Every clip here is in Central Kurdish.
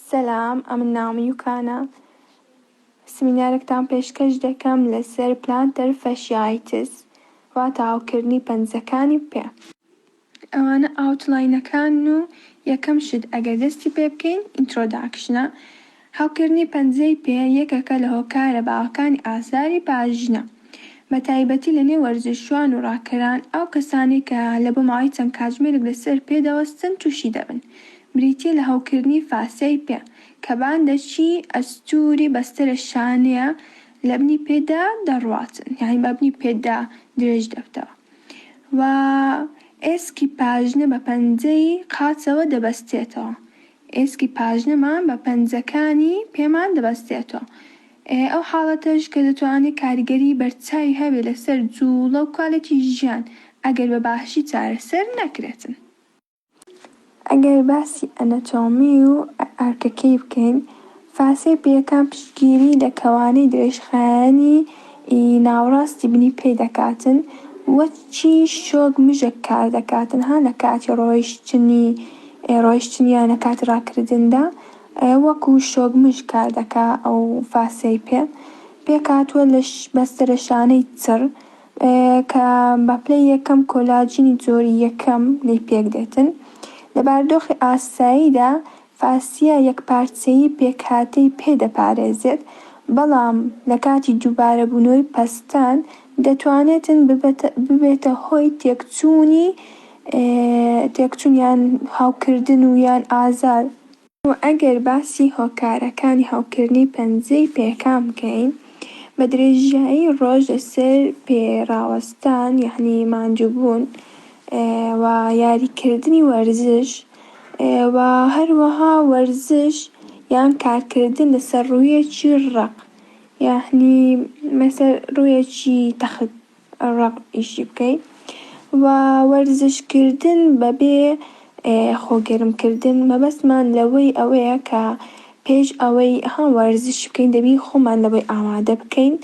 سەلام ئەمن ناوم یوکانە سمینارێکتان پێشکەش دەکەم لەسەر پلانتەر فەشیایتس واتا هەوکردنی پەنجەکانی پێ. ئەوانە ئاوتلاینەکانن و یەکەم شت ئەگەر دەستی پێ بکەین ئینترۆداکشنە. هەوکردنی پەنجەی پێ یەکەکە لە هۆکارە باوەکانی ئازاری پاژنە. بە تایبەتی لە نێو وەرزشوان و ڕاکەران، ئەو کەسانەی کە لە بۆ ماوەی چەند کاتژمێرێک لە سەر پێ دەوەستن تووشی دەبن، بریتییە لە هەوکردنی فاسیای پێ، کە باندەکی ئەستووری بەستەرە شانەیە لە بنی پێدا دەڕواتن، یانی بە بنی پێدا درێژ دەبتەوە و ئێسکی پاژنە بە پەنجەی قاچەوە دەبەستێتەوە، ئێسکی پاژنەمان بە پەنجەکانی پێمان دەبەستێتەوە، ئەو حاڵەتەش کە دەتوانێت کاریگەری بەرچاوی هەبێت لەسەر جووڵە و کوالێتی ژیان ئەگەر بە باشی چارەسەر نەکرێتن. ئەگەر باسی ئەنەتۆمی و ئەرکەکەی بکەین، فاسێ پێکان پشتگیری لە کەوانەی درێژخایەنی ی ناوڕاستی بنی پێ دەکاتن و چی شۆک مژە کار دەکاتن ها لە کاتی ڕۆیشتنی ڕۆیشتن یا لە کاتی ڕاکردن دا وەکوو شۆک مژ کار دەکا ئەو فاسێ پێ پێکهاتووە لە بەستەرە شانەی چڕ کە بە پلەی یەکەم کۆلاجینی جۆری یەکەم لێی پێک دێتن لە باردۆخی ئاسایی دا فاسیا یەکپارچەیی پێکهاتەی پێ دەپارێزێت، بەڵام لە کاتی دووبارەبوونەوەی پەستان دەتوانێتن ببەتە ببێتە هۆی تێکچوونی تێکچوون یان هەوکردن و یان ئازار. وە ئەگەر باسی هۆکارەکانی هەوکردنی پەنجەی پێکان بکەین بە درێژایی ڕۆژ لەسەر پێ ڕاوەستان یەعنی ماندووبوون، و یاری کردنی وەرزش و هەروەها وەرزش یان کارکردن لەسەر ڕوویەکی ڕەق یانی مەسە ڕوویەکی تەخت ڕەق ئیشی بکەی و وەرزش کردن بەبێ خۆ گەرم کردن مەبەستمان لەوەی ئەوەیە کە پێش ئەوەی ها وەرزش بکەین دەبی خۆمان لەوەی ئامادە بکەین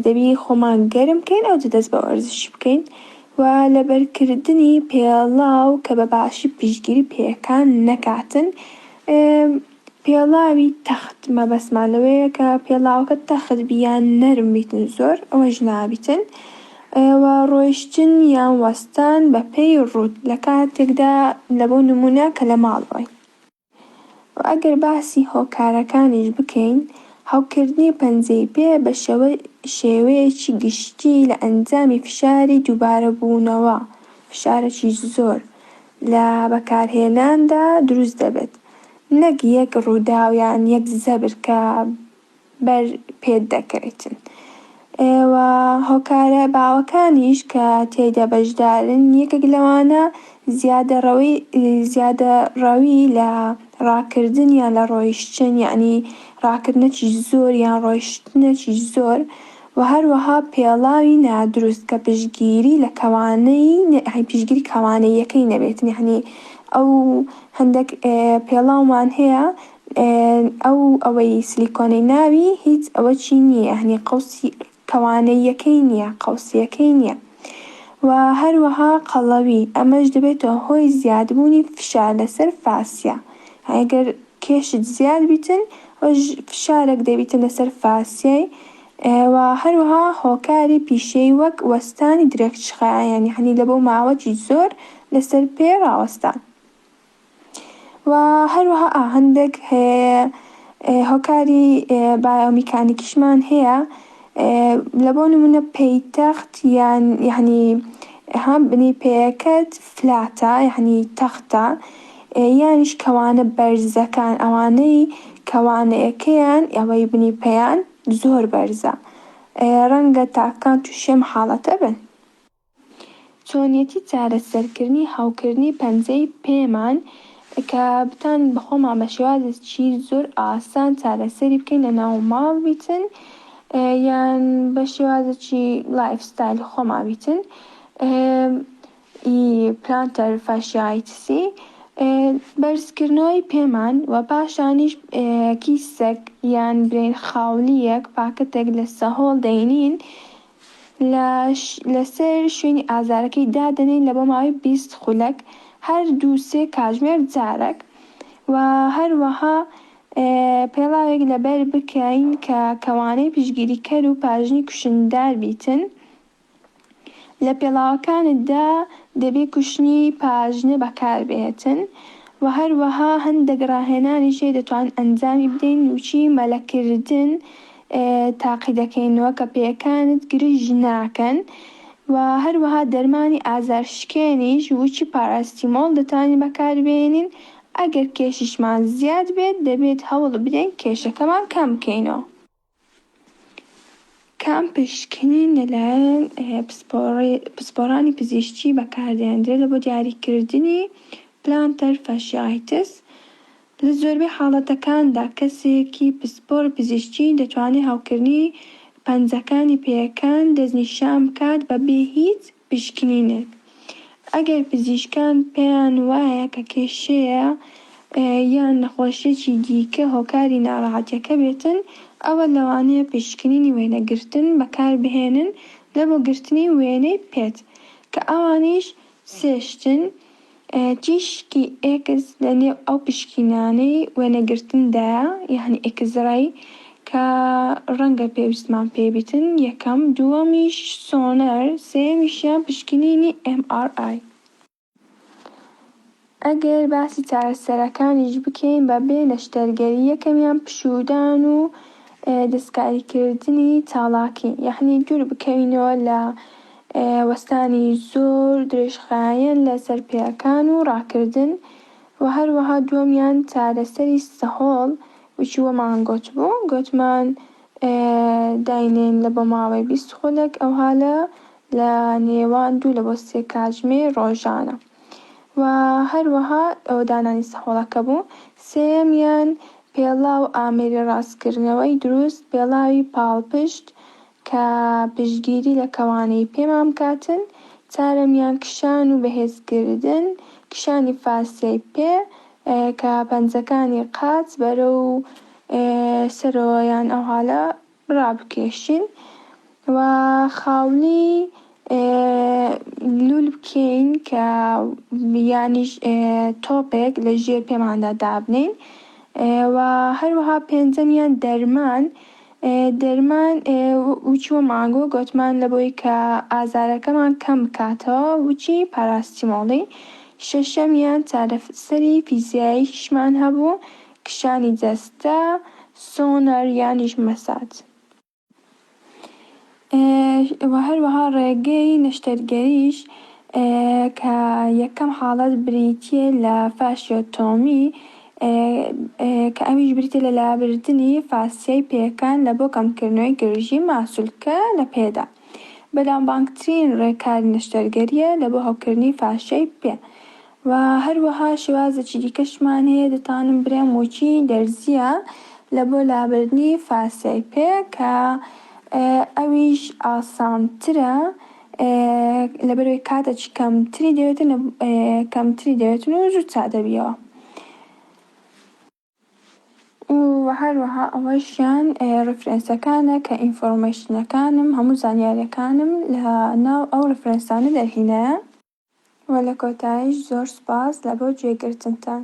دەبی خۆمان گەرم بکەین ئەو دەست بە وەرزش بکەین و لەبەرکردنی پێڵاو کە بە باشی پشگیری پێەکان نەکاتن. پێڵاوی تەخت مەبەستمان لەوەیە کە پێڵاوەکە تەخت بی یان نەرم بیتن زۆر ئەوەش نابیتن و ڕۆیشتن یان وەستان بە پێی ڕووت لە کاتێکدا لە بۆ نمونە کە لە ماڵ بن و ئەگەر باسی هۆکارەکانیش بکەین هەوکردنی پەنجەی پێ بە شێوە شێوەیەکی گشتی لە ئەنجامی فشاری دووبارە بوونەوە فشارەکی زۆر لە بەکارهێناندا دروست دەبێت. نەک یەک ڕووداو یان یەک زەبر کە بەر پێت دەکەوێتن و هۆکارە باوەکانیش کە تێیدا بەشدارن یەکێک لەوانە زیادە ڕەوی زیادە ڕەوی لە ڕاکردن یان لە ڕۆیشتن یانی ڕاکردنەکی زۆر یان ڕۆیشتنەکی زۆر. و هەروەها پێڵاوی نادروست کە پشتگیری لە کەوانەی پشتگیری کەوانەییەکەی نەبێت یەعنی ئەو هەندەک پێڵاومان هەیە ئەو ئەوەی سلیکۆنەی ناوی هیچ ئەوە چی نیە یەعنی قەوسی کەوانەییەکەی نیە قەوسیەکەی نیە و هەروەها قەڵەوی ئەمەش دەبێتە هۆی زیادبوونی فشار لەسەر فاسیا ئەگەر. کێشت زیاد بیتن ئەوەش فشارەک دەبیتە لەسەر فاسیای و هەروەها هۆکاری پیشەیی وەک وەستانی درەکچخایەن یەعنی لە بۆ ماوەکی زۆر لەسەر پێ ڕاوەستان و هەروەها ئا هەندەک هۆکاری بایۆمیکانیکیشمان هەیە لە بۆ نمونە پەیتەخت یان یەعنی ها بنی پێیەکەت فلاتە یەعنی تەختە یانیش کەوانە بەرزەکان ئەوانەی کەوانەیەکەیان یاوەی بنی پێیان زۆر بەرزە ڕەنگە تاکەکان توشی ئەم حاڵەتە بن. چۆنیەتی چارەسەرکردنی هەوکردنی پەنجەی پێمان کە بتوانین بەخۆمان بە شێوازێکی زۆر ئاسان چارەسەری بکەین لە ناو ماڵ بیتن یان بە شێوازێکی لایف ستایلی خۆمان بیتن ی پلانتەر فاشیایتسی بەرزکردنەوەی پێمان و پاشانیش کیسەک یان برین خاولییەک پاکەتێک لە سەهۆڵ دەینین لە لەسەر شوێنی ئازارەکەی دادەنێین لە بۆ ماوەی بیست خولەک هەر دوو سێ کاژمێر جارەک و هەروەها پێڵاوێک لەبەر بکەین کە کەوانەی پشگیریکەر و پاژنی کوشندار بیتن لە پێڵاوەکانتدا دەبێ کوشنی پاژنە بەکاربهێتن و هەروەها هەندێک ڕاهێنانیش هەیە دەتوانین ئەنجامی بدەین وچی مەلەکردن تاقیدەکەینەوە کە پێیەکانت گرژ ناکەن و هەروەها دەرمانی ئازار شکێنیش وچی پاراستیمۆڵ دەتوانین بەکاربێنین ئەگەر کێشیشمان زیاد بێت دەبێت هەوڵبدەین کێشەکەمان کەم بکەینەوە. کام پشکنین لەلایەن پسپۆڕانی پزیشکی بەکاردێنرێت بۆ دیاریکردنی پلانتەر فاشیایتس؟ لە زۆربەی حاڵەتەکاندا کەسێکی پسپۆڕ پزیشکی دەتوانێت هەوکردنی پەنجەکانی پێیەکان دەستنیشان بکات بەبێ هیچ پشکنینێک ئەگەر پزیشکان پێیان وایە کە کێشەیە یان نەخۆشیەکی دیکە هۆکاری ناڕەحەتیەکە بێتن ئەوە لەوانەیە پشکنینی وێنەگرتن بەکاربهێنن لە بۆ گرتنی وێنەی پێت کە ئەوانیش سێ شتن، تیشکی ئێکس لە نێو ئەو پشکینانەی وێنەگرتندایە یانی ئێکسرەی کە ڕەنگە پێویستمان پێی بیتن، یەکەم، دووەمیش سۆنەر، سێیەمیشیان پشکنینی ئێم ئاڕ ئای. ئەگەر باسی چارەسەرەکانیش بکەین بە بێ نەشتەرگەری یەکەمیان پشوودان و دەستکاریکردنی چاڵاکی یانی دوور بکەوینەوە لە وەستانی زۆر درێژخایەن لە سەر پێیەکان و ڕاکردن و هەروەها دووەمیان چارەسەری سەهۆڵ وچی وەمان گۆتبوو گۆتمان داینێن لە بۆ ماوەی بیست خولەک ئەوها لە لە نێوان دوو لە بۆ سێ کاتژمێ ڕۆژانە و هەروەها ئەوە دانانی سەهۆڵەکە بوو سێیەمیان پێڵاو ئامێری ڕاستکردنەوەی دروست پێڵاوی پاڵپشت کە پشتگیری لە کەوانەی پێمان بکاتن، چارەمیان کشان و بەهێزکردن، کشانی فاسیای پێ، کە پەنجەکانی قاچ بەرەو سەرەوە یان ئەوهالە ڕابکێشین و خاولی لول بکەین کە یانیش تۆپێک لە ژێر پێماندا دابنێین و هەروەها پێنجەمیان دەرمان دەرمان وچوە مانگۆ گۆتمان لەبەوەی کە ئازارەکەمان کەم بکاتەوە وچی پاراستیمۆڵی شەشەمیان چارەسەری فیزیاییشمان هەبوو کشانی جەستە سۆنەر یانیش مەساج. و هەروەها ڕێگەی نەشتەرگەریش کە یەکەم حاڵەت بریتیە لە فاشیۆتۆمی کە ئەویش بریتیە لە لابردنی فاسیای پێکان لە بۆ کەمکردنەوەی گرژی ماسولکە لە پێدا، بەلام بانگترین ڕێکاری نەشتەرگەریە لە بۆ هەوکردنی فاشیای پێ. و هەروەها شێوازێکی دیکەشمان هەیە دەتوانم برێم وکی دەرزییە لە بۆ لابردنی فاسیای پێ کە ئەویش ئاسانترە لەبەرەوەی کاتەکی کەمتری دەوێتن کەمتری دەوێتن و زوو چا دەبیەوە و هەروەها ئەوەشیان ڕفرەنسەکانە کە ئینفۆرمەیشنەکانم هەموو زانیاریەکانم لە ناو ئەو ڕفرەنسانە دەرهینایە. وە لە کۆتایش زۆر سوپاس لە بۆ گوێ گرتنتان.